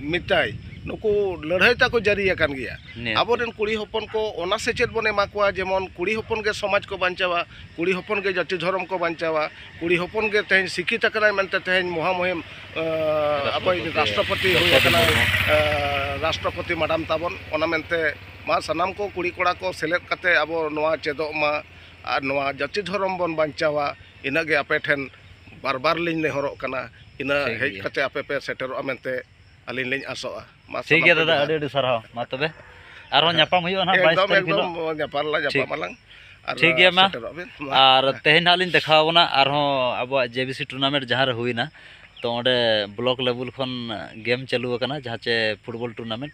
ᱢᱤᱛᱟᱭ ᱱᱩᱠᱩ ᱞᱟᱹᱲᱦᱟᱹᱭ ᱛᱟᱠᱚ ᱡᱟᱹᱨᱤ ᱟᱠᱟᱱ ᱜᱮᱭᱟ ᱟᱵᱚᱨᱮᱱ ᱠᱩᱲᱤ ᱦᱚᱯᱚᱱ ᱠᱚ ᱚᱱᱟ ᱥᱮᱪᱮᱫ ᱵᱚᱱ ᱮᱢᱟ ᱠᱚᱣᱟ ᱡᱮᱢᱚᱱ ᱠᱩᱲᱤ ᱦᱚᱯᱚᱱ ᱜᱮ ᱥᱚᱢᱟᱡᱽ ᱠᱚ ᱵᱟᱧᱪᱟᱣᱟ ᱠᱩᱲᱤ ᱦᱚᱯᱚᱱ ᱜᱮ ᱡᱟᱹᱛᱤ ᱫᱷᱚᱨᱚᱢ ᱠᱚ ᱵᱟᱧᱪᱟᱣᱟ ᱠᱩᱲᱤ ᱦᱚᱯᱚᱱ ᱜᱮ ᱛᱮᱦᱮᱧ ᱥᱤᱠᱠᱷᱤᱛ ᱟᱠᱟᱱᱟᱭ ᱢᱮᱱᱛᱮ ᱛᱮᱦᱮᱧ ᱢᱚᱦᱟ ᱢᱩᱦᱤᱢ ᱟᱵᱚᱭᱤᱡ ᱨᱟᱥᱴᱨᱚᱯᱚᱛᱤ ᱦᱩᱭ ᱟᱠᱟᱱᱟᱭ ᱨᱟᱥᱴᱨᱚᱯᱚᱛᱤ ᱢᱟᱰᱟᱢ ᱛᱟᱵᱚᱱ ᱚᱱᱟ ᱢᱮᱱᱛᱮ ᱢᱟ ᱥᱟᱱᱟᱢ ᱠᱚ ᱠᱩᱲᱤ ᱠᱚᱲᱟ ᱠᱚ ᱥᱮᱞᱮᱫ ᱠᱟᱛᱮ ᱟᱵᱚ ᱱᱚᱣᱟ ᱪᱮᱫᱚᱜ ᱢᱟ ᱟᱨ ᱱᱚᱣᱟ ᱡᱟᱹᱛᱤ ᱫᱷᱚᱨᱚᱢ ᱵᱚᱱ ᱵᱟᱧᱪᱟᱣᱟ ᱤᱱᱟᱹ ᱜᱮ ᱟᱯᱮ ᱴᱷᱮᱱ ᱵᱟᱨ ᱵᱟᱨ ᱞᱤᱧ ᱱᱮᱦᱚᱨᱚᱜ ᱠᱟᱱᱟ ᱤᱱᱟᱹ ᱦᱮᱡ ᱠᱟᱛᱮ ᱟᱯᱮ ᱯᱮ ᱥᱮᱴᱮᱨᱚᱜᱼᱟ ᱢᱮᱱᱛᱮ ᱟᱹᱞᱤᱧ ᱞᱤᱧ ᱟᱥᱚᱜᱼᱟ ᱢᱟ ᱴᱷᱤᱠ ᱜᱮᱭᱟ ᱫᱟᱫᱟ ᱟᱹᱰᱤ ᱟᱹᱰᱤ ᱥᱟᱨᱦᱟᱣ ᱢᱟ ᱛᱚᱵᱮ ᱟᱨᱦᱚᱸ ᱧᱟᱯᱟᱢ ᱦᱩᱭᱩᱜᱼᱟ ᱱᱟᱦᱟᱜ ᱵᱟᱭᱤᱥ ᱛᱟᱹᱨᱤᱠᱷ ᱦᱤᱞᱳᱜ ᱧᱟᱯᱟᱢ ᱞᱟᱝ ᱧᱟᱯᱟᱢ ᱟᱞᱟᱝ ᱴᱷᱤᱠ ᱜᱮᱭᱟ ᱢᱟ ᱟᱨ ᱛᱮᱦᱮᱧ ᱱᱟᱦᱟᱜ ᱞᱤᱧ ᱫᱮᱠᱷᱟᱣ ᱵᱚᱱᱟ ᱟᱨᱦᱚᱸ ᱟᱵᱚᱣᱟᱜ ᱡᱮ ᱵᱤ ᱥᱤ ᱴᱩᱨᱱᱟᱢᱮᱱᱴ ᱡᱟᱦᱟᱸ ᱨᱮ ᱦᱩᱭᱱᱟ ᱛᱚ ᱚᱸᱰᱮ ᱵᱞᱚᱠ ᱞᱮᱵᱮᱞ ᱠᱷᱚᱱ ᱜᱮᱢ ᱪᱟᱹᱞᱩ ᱟᱠᱟᱱᱟ ᱡᱟᱦᱟᱸ ᱪᱮ ᱯᱷᱩᱴᱵᱚᱞ ᱴᱩᱨᱱᱟᱢᱮᱱᱴ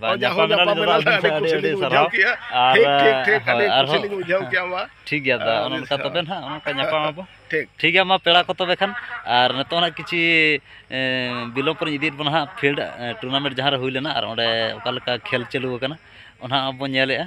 ᱧᱟᱯᱟᱢ ᱮᱱᱟ ᱞᱤᱧ ᱟᱹᱵᱤᱱ ᱥᱟᱶ ᱟᱹᱰᱤ ᱟᱹᱰᱤ ᱥᱟᱨᱦᱟᱣ ᱟᱨ ᱟᱨᱦᱚᱸ ᱴᱷᱤᱠ ᱜᱮᱭᱟ ᱫᱟ ᱚᱱᱮ ᱚᱱᱠᱟ ᱛᱚᱵᱮ ᱱᱟᱦᱟᱜ ᱚᱱᱮ ᱚᱱᱠᱟ ᱧᱟᱯᱟᱢ ᱟᱵᱚ ᱴᱷᱤᱠ ᱴᱷᱤᱠ ᱜᱮᱭᱟ ᱢᱟ ᱯᱮᱲᱟ ᱠᱚ ᱛᱚᱵᱮ ᱠᱷᱟᱱ ᱟᱨ ᱱᱤᱛᱚᱜ ᱱᱟᱦᱟᱜ ᱠᱤᱪᱷᱤ ᱵᱤᱞᱚᱢ ᱯᱚᱨᱮᱧ ᱤᱫᱤᱭᱮᱫ ᱵᱚᱱᱟ ᱦᱟᱸᱜ ᱯᱷᱤᱞᱰ ᱴᱩᱨᱱᱟᱢᱮᱱᱴ ᱡᱟᱦᱟᱸ ᱨᱮ ᱦᱩᱭ ᱞᱮᱱᱟ ᱟᱨ ᱚᱸᱰᱮ ᱚᱠᱟ ᱞᱮᱠᱟ ᱠᱷᱮᱞ ᱪᱟᱹᱞᱩ ᱟᱠᱟᱱᱟ ᱚᱱᱟ ᱦᱚᱸ ᱵᱚᱱ ᱧᱮᱞᱮᱫᱼᱟ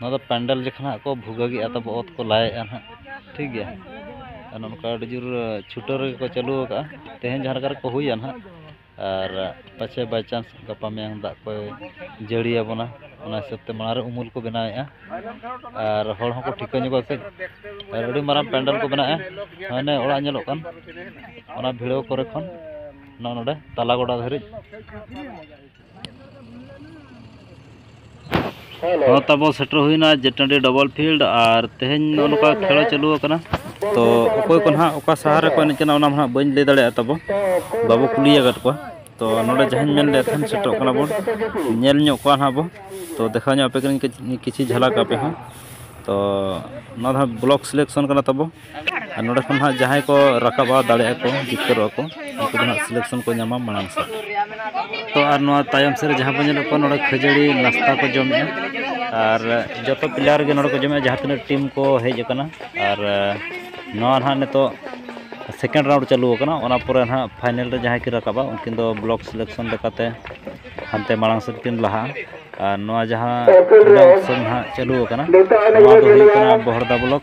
ᱱᱚᱣᱟ ᱫᱚ ᱯᱮᱱᱰᱮᱞ ᱡᱚᱠᱷᱚᱱ ᱦᱟᱸᱜ ᱠᱚ ᱵᱷᱩᱜᱟᱹᱜᱮᱜᱼᱟ ᱛᱟᱵᱚ ᱚᱛ ᱠᱚ ᱞᱟᱭᱮᱜᱼᱟ ᱦᱟᱸᱜ ᱴᱷᱤᱠ ᱜᱮᱭᱟ ᱟᱨ ᱱᱚᱝᱠᱟ ᱟᱹᱰᱤ ᱡᱳᱨ ᱪᱷᱩᱴᱟᱹᱣ ᱨᱮᱜᱮ ᱠᱚ ᱪᱟᱹᱞᱩ ᱟᱠᱟᱫᱼᱟ ᱛᱮᱦᱮᱧ ᱡᱟᱦᱟᱸ ᱞᱮᱠᱟ ᱨᱮᱠᱚ ᱦᱩᱭᱟ ᱦᱟᱸᱜ ᱟᱨ ᱯᱟᱪᱷᱮ ᱵᱟᱭ ᱪᱟᱱᱥ ᱜᱟᱯᱟ ᱢᱮᱭᱟᱝ ᱫᱟᱜ ᱠᱚᱭ ᱡᱟᱹᱲᱤ ᱟᱵᱚᱱᱟ ᱚᱱᱟ ᱦᱤᱥᱟᱹᱵ ᱛᱮ ᱢᱟᱲᱟᱝ ᱨᱮ ᱩᱢᱩᱞ ᱠᱚ ᱵᱮᱱᱟᱣᱮᱜᱼᱟ ᱟᱨ ᱦᱚᱲ ᱦᱚᱸᱠᱚ ᱴᱷᱤᱠᱟᱹ ᱧᱚᱜᱚᱜᱼᱟ ᱠᱟᱹᱡ ᱟᱨ ᱟᱹᱰᱤ ᱢᱟᱨᱟᱝ ᱯᱮᱱᱰᱮᱞ ᱠᱚ ᱵᱮᱱᱟᱣᱮᱜᱼᱟ ᱦᱟᱱᱮ ᱚᱲᱟᱜ ᱧᱮᱞᱚᱜ ᱠᱟᱱ ᱚᱱᱟ ᱵᱷᱤᱲᱟᱹᱣ ᱠᱚᱨᱮ ᱠᱷᱚᱱ ᱱᱚᱜᱼᱚ ᱱᱚᱰᱮ ᱛᱟᱞᱟ ᱜᱚᱰᱟ ᱫᱷᱟᱹᱨᱤᱡ ᱦᱚᱸ ᱛᱟᱵᱚ ᱥᱮᱴᱮᱨ ᱦᱩᱭᱱᱟ ᱡᱮᱴᱟᱺᱰᱤ ᱰᱚᱵᱚᱞ ᱯᱷᱤᱞᱰ ᱟᱨ ᱛᱮᱦᱮᱧ ᱱᱚᱜᱼᱚ ᱱᱚᱝᱠᱟ ᱠᱷᱮᱞ ᱪᱟᱹᱞᱩ ᱟᱠᱟᱱᱟ ᱛᱚ ᱚᱠᱚᱭ ᱠᱚ ᱱᱟᱦᱟᱜ ᱚᱠᱟ ᱥᱟᱦᱟᱨ ᱨᱮᱠᱚ ᱮᱱᱮᱡ ᱠᱟᱱᱟ ᱚᱱᱟ ᱱᱟᱦᱟᱜ ᱵᱟᱹᱧ ᱞᱟᱹᱭ ᱫᱟᱲᱮᱭᱟᱜᱼᱟ ᱛᱟᱵᱚ ᱵᱟᱵᱚ ᱠᱩᱞᱤ ᱟᱠᱟᱫ ᱠᱚᱣᱟ ᱛᱚ ᱱᱚᱰᱮ ᱡᱟᱦᱟᱸᱧ ᱢᱮᱱ ᱞᱮᱫ ᱛᱟᱦᱮᱸᱫ ᱥᱮᱴᱮᱨᱚᱜ ᱠᱟᱱᱟ ᱵᱚᱱ ᱧᱮᱞ ᱧᱚᱜ ᱠᱚᱣᱟ ᱱᱟᱦᱟᱜ ᱵᱚ ᱛᱚ ᱫᱮᱠᱷᱟᱣ ᱧᱚᱜ ᱟᱯᱮ ᱠᱟᱹᱱᱟᱹᱧ ᱠᱤᱪᱷᱤ ᱡᱷᱟᱞᱟᱠ ᱟᱯᱮ ᱦᱚᱸ ᱛᱚ ᱱᱚᱣᱟ ᱫᱚ ᱱᱟᱦᱟᱜ ᱵᱞᱚᱠ ᱥᱤᱞᱮᱠᱥᱚᱱ ᱠᱟᱱᱟ ᱛᱟᱵᱚ ᱟᱨ ᱱᱚᱰᱮ ᱠᱷᱚᱱ ᱦᱟᱸᱜ ᱡᱟᱦᱟᱸᱭ ᱠᱚ ᱨᱟᱠᱟᱵᱟ ᱫᱟᱲᱮᱭᱟᱜᱼᱟ ᱠᱚ ᱡᱤᱛᱠᱟᱹᱨᱚᱜᱼᱟ ᱠᱚ ᱩᱱᱠᱩ ᱫᱚ ᱦᱟᱸᱜ ᱥᱤᱞᱮᱠᱥᱚᱱ ᱠᱚ ᱧᱟᱢᱟ ᱢᱟᱲᱟᱝ ᱥᱮᱫ ᱛᱚ ᱟᱨ ᱱᱚᱣᱟ ᱛᱟᱭᱚᱢ ᱥᱮᱫ ᱨᱮ ᱡᱟᱦᱟᱸ ᱵᱚᱱ ᱧᱮᱞᱮᱫ ᱠᱚᱣᱟ ᱱᱚᱰᱮ ᱠᱷᱟᱹᱡᱟᱹᱲᱤ ᱱᱟᱥᱛᱟ ᱠᱚ ᱡᱚᱢᱮᱜᱼᱟ ᱟᱨ ᱡᱚᱛᱚ ᱯᱞᱮᱭᱟᱨ ᱜᱮ ᱱᱚᱰᱮ ᱠᱚ ᱡᱚᱢᱮᱜᱼᱟ ᱡᱟᱦᱟᱸ ᱛᱤᱱᱟᱹᱜ ᱴᱤᱢ ᱠᱚ ᱦᱮᱡ ᱟᱠᱟᱱᱟ ᱟᱨ ᱱᱚᱣᱟ ᱱᱟᱦᱟᱜ ᱱᱤᱛᱚᱜ ᱥᱮᱠᱮᱱᱰ ᱨᱟᱣᱩᱱᱰ ᱪᱟᱹᱞᱩ ᱟᱠᱟᱱᱟ ᱚᱱᱟ ᱯᱚᱨᱮ ᱱᱟᱦᱟᱜ ᱯᱷᱟᱭᱱᱮᱞ ᱨᱮ ᱡᱟᱦᱟᱸᱭ ᱠᱤᱱ ᱨᱟᱠᱟᱵᱟ ᱩᱱᱠᱤᱱ ᱫᱚ ᱵᱞᱚᱠ ᱥᱤᱞᱮᱠᱥᱚᱱ ᱞᱮᱠᱟᱛᱮ ᱦᱟᱱᱛᱮ ᱢᱟᱲᱟᱝ ᱥᱮᱫ ᱠᱤᱱ ᱞᱟᱦᱟᱜᱼᱟ ᱟᱨ ᱱᱚᱣᱟ ᱡᱟᱦᱟᱸ ᱱᱟᱦᱟᱜ ᱪᱟᱹᱞᱩ ᱟᱠᱟᱱᱟ ᱱᱚᱣᱟ ᱫᱚ ᱦᱩᱭᱩᱜ ᱠᱟᱱᱟ ᱵᱚᱦᱚᱲᱫᱟ ᱵᱞᱚᱠ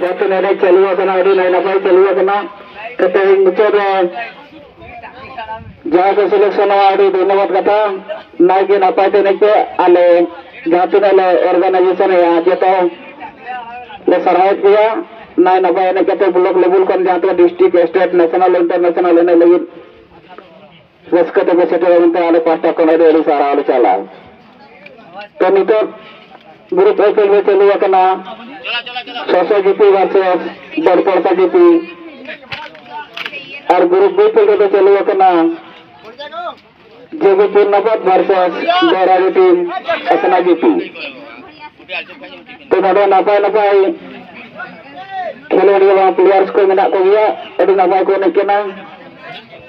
ᱡᱟᱛᱮ ᱱᱚᱰᱮ ᱪᱟᱹᱞᱩ ᱟᱠᱟᱱᱟ ᱟᱹᱰᱤ ᱱᱟᱭ ᱱᱟᱯᱟᱭ ᱪᱟᱹᱞᱩ ᱟᱠᱟᱱᱟ ᱠᱟᱛᱮ ᱢᱩᱪᱟᱹᱫ ᱨᱮ ᱡᱟᱦᱟᱸᱭ ᱠᱚ ᱥᱤᱞᱮᱠᱥᱚᱱ ᱟᱹᱰᱤ ᱫᱷᱚᱱᱭᱚᱵᱟᱫ ᱠᱟᱛᱷᱟ ᱱᱟᱭ ᱜᱮ ᱱᱟᱯᱟᱭ ᱛᱮ ᱮᱱᱮᱡ ᱯᱮ ᱟᱞᱮ ᱡᱟᱦᱟᱸ ᱛᱤᱱᱟᱹᱜ ᱞᱮ ᱚᱨᱜᱟᱱᱟᱭᱡᱮᱥᱚᱱ ᱮᱜᱼᱟ ᱡᱚᱛᱚ ᱞᱮ ᱥᱟᱨᱦᱟᱣᱮᱫ ᱯᱮᱭᱟ ᱱᱟᱭ ᱱᱟᱯᱟᱭ ᱮᱱᱮᱡ ᱠᱟᱛᱮ ᱵᱞᱚᱠ ᱞᱮᱵᱮᱞ ᱠᱷᱚᱱ ᱡᱟᱦᱟᱸ ᱛᱤᱱᱟᱹᱜ ᱰᱤᱥᱴᱨᱤᱠᱴ ᱥᱴᱮᱴ ᱱᱮᱥᱱᱟᱞ ᱤᱱᱴᱟᱨᱱᱮᱥᱱᱟᱞ ᱮᱱᱮᱡ ᱞᱟᱹᱜᱤᱫ ᱨᱟᱹᱥᱠᱟᱹ ᱛᱮᱜᱮ ᱥᱮᱴᱮᱨ ᱮᱱᱛᱮ ᱟᱞᱮ ᱯᱟᱦᱴᱟ ᱠᱷᱚᱱ ᱟᱹᱰᱤ ᱟᱹᱰᱤ ᱥᱟᱨᱦᱟᱣ ᱞᱮ ᱪᱟᱞᱟ ᱛᱚ ᱱᱤᱛᱚᱜ ᱜᱨᱩᱯ ᱮ ᱠᱷᱮᱞ ᱨᱮ ᱪᱟᱹᱞᱩ ᱟᱠᱟᱱᱟ ᱥᱚᱥᱚ ᱡᱤᱯᱤ ᱵᱷᱟᱨᱥᱮᱥ ᱵᱚᱲᱯᱚᱲᱯᱟ ᱡᱤᱯᱤ ᱟᱨ ᱜᱨᱩᱯ ᱵᱤ ᱠᱷᱮᱞ ᱨᱮᱫᱚ ᱪᱟᱹᱞᱩ ᱟᱠᱟᱱᱟ ᱡᱮᱵᱤᱯᱩᱨ ᱱᱟᱵᱟᱫ ᱵᱷᱟᱨᱥᱮᱥ ᱵᱮᱨᱟᱜᱤ ᱴᱤᱢ ᱟᱥᱱᱟ ᱡᱤᱯᱤ ᱛᱚ ᱱᱚᱰᱮ ᱱᱟᱯᱟᱭ ᱱᱟᱯᱟᱭ ᱠᱷᱮᱞᱳᱰᱤᱭᱟᱹ ᱵᱟᱝ ᱯᱞᱮᱭᱟᱨᱥ ᱠᱚ ᱢᱮᱱᱟᱜ ᱠᱚᱜᱮᱭᱟ ᱟᱹᱰᱤ ᱱᱟᱯᱟᱭ ᱠᱚ ᱮᱱᱮᱡ ᱠᱟᱱᱟ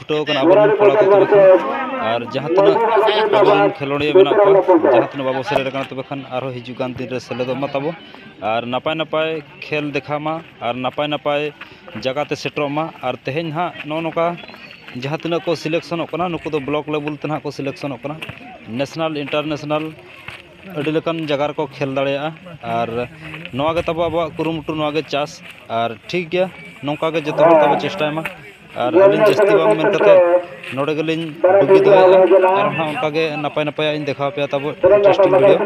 ᱪᱷᱩᱴᱟᱹᱣ ᱠᱟᱱᱟ ᱟᱵᱚ ᱨᱮᱱ ᱠᱚᱲᱟ ᱠᱚ ᱛᱚᱵᱮ ᱠᱷᱟᱱ ᱟᱨ ᱡᱟᱦᱟᱸ ᱛᱤᱱᱟᱹᱜ ᱟᱵᱚ ᱨᱮᱱ ᱠᱷᱮᱞᱳᱰᱤᱭᱟᱹ ᱢᱮᱱᱟᱜ ᱠᱚᱣᱟ ᱡᱟᱦᱟᱸ ᱛᱤᱱᱟᱹᱜ ᱵᱟᱵᱚ ᱥᱮᱞᱮᱫ ᱠᱟᱱᱟ ᱛᱚᱵᱮ ᱠᱷᱟᱱ ᱟᱨᱦᱚᱸ ᱦᱤᱡᱩᱜ ᱠᱟᱱ ᱫᱤᱱ ᱨᱮ ᱥᱮᱞᱮᱫᱚᱜ ᱢᱟ ᱛᱟᱵᱚ ᱟᱨ ᱱᱟᱯᱟᱭ ᱱᱟᱯᱟᱭ ᱠᱷᱮᱞ ᱫᱮᱠᱷᱟᱣ ᱢᱟ ᱟᱨ ᱱᱟᱯᱟᱭ ᱱᱟᱯᱟᱭ ᱡᱟᱭᱜᱟ ᱛᱮ ᱥᱮᱴᱮᱨᱚᱜ ᱢᱟ ᱟᱨ ᱛᱮᱦᱮᱧ ᱦᱟᱸᱜ ᱱᱚᱜᱼᱚᱸᱭ ᱱᱚᱝᱠᱟ ᱡᱟᱦᱟᱸ ᱛᱤᱱᱟᱹᱜ ᱠᱚ ᱥᱤᱞᱮᱠᱥᱚᱱᱚᱜ ᱠᱟᱱᱟ ᱱᱩᱠᱩ ᱫᱚ ᱵᱞᱚᱠ ᱞᱮᱵᱮᱞ ᱛᱮ ᱦᱟᱸᱜ ᱠᱚ ᱥᱤᱞᱮᱠᱥᱚᱱᱚᱜ ᱠᱟᱱᱟ ᱱᱮᱥᱱᱮᱞ ᱤᱱᱴᱟᱨᱱᱮᱥᱱᱮᱞ ᱟᱹᱰᱤ ᱞᱮᱠᱟᱱ ᱡᱟᱭᱜᱟ ᱨᱮᱠᱚ ᱠᱷᱮᱞ ᱫᱟᱲᱮᱭᱟᱜᱼᱟ ᱟᱨ ᱱᱚᱣᱟ ᱜᱮ ᱛᱟᱵᱚ ᱟᱵᱚᱣᱟᱜ ᱠᱩᱨᱩᱢᱩᱴᱩ ᱱᱚᱣᱟ ᱜᱮ ᱪᱟᱥ ᱟᱨ ᱴᱷᱤᱠ ᱜᱮᱭᱟ ᱱᱚᱝᱠᱟ ᱜᱮ ᱡᱚᱛᱚ ᱦᱚᱲ ᱛᱮᱵᱚᱱ ᱪᱮᱥᱴᱟᱭ ᱢᱟ ᱟᱨ ᱟᱹᱞᱤᱧ ᱡᱟᱹᱥᱛᱤ ᱵᱟᱝ ᱢᱮᱱ ᱠᱟᱛᱮᱫ ᱱᱚᱰᱮ ᱜᱮᱞᱤᱧ ᱰᱩᱜᱤ ᱫᱚᱦᱚᱭᱮᱫᱼᱟ ᱟᱨ ᱦᱚᱸ ᱚᱱᱠᱟ ᱜᱮ ᱱᱟᱯᱟᱭ ᱱᱟᱯᱟᱭᱟᱜ ᱤᱧ ᱫᱮᱠᱷᱟᱣ ᱟᱯᱮᱭᱟ ᱛᱟᱵᱚ ᱤᱱᱴᱟᱨᱮᱥᱴᱤᱝ ᱵᱷᱤᱰᱭᱳ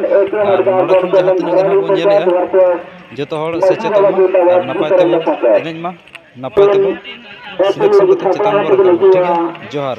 ᱟᱨ ᱱᱚᱰᱮ ᱠᱷᱚᱱ ᱡᱟᱦᱟᱸ ᱛᱤᱱᱟᱹᱜ ᱜᱮ ᱱᱟᱦᱟᱜ ᱵᱚᱱ ᱧᱮᱞᱮᱫᱼᱟ ᱡᱚᱛᱚ ᱦᱚᱲ ᱥᱮᱪᱮᱫᱚᱜ ᱢᱟ ᱟᱨ ᱱᱟᱯᱟᱭ ᱛᱮᱵᱚᱱ ᱮᱱᱮᱡ ᱢᱟ ᱱᱟᱯᱟᱭ ᱛᱮᱵᱚᱱ ᱥᱩᱞᱩᱠ ᱥᱚᱝᱜᱚᱛ ᱪᱮᱛᱟᱱ ᱵᱚᱱ ᱨᱟᱠᱟᱵᱽ ᱢᱟ ᱴᱷᱤᱠ ᱜᱮᱭᱟ ᱡᱚᱦᱟᱨ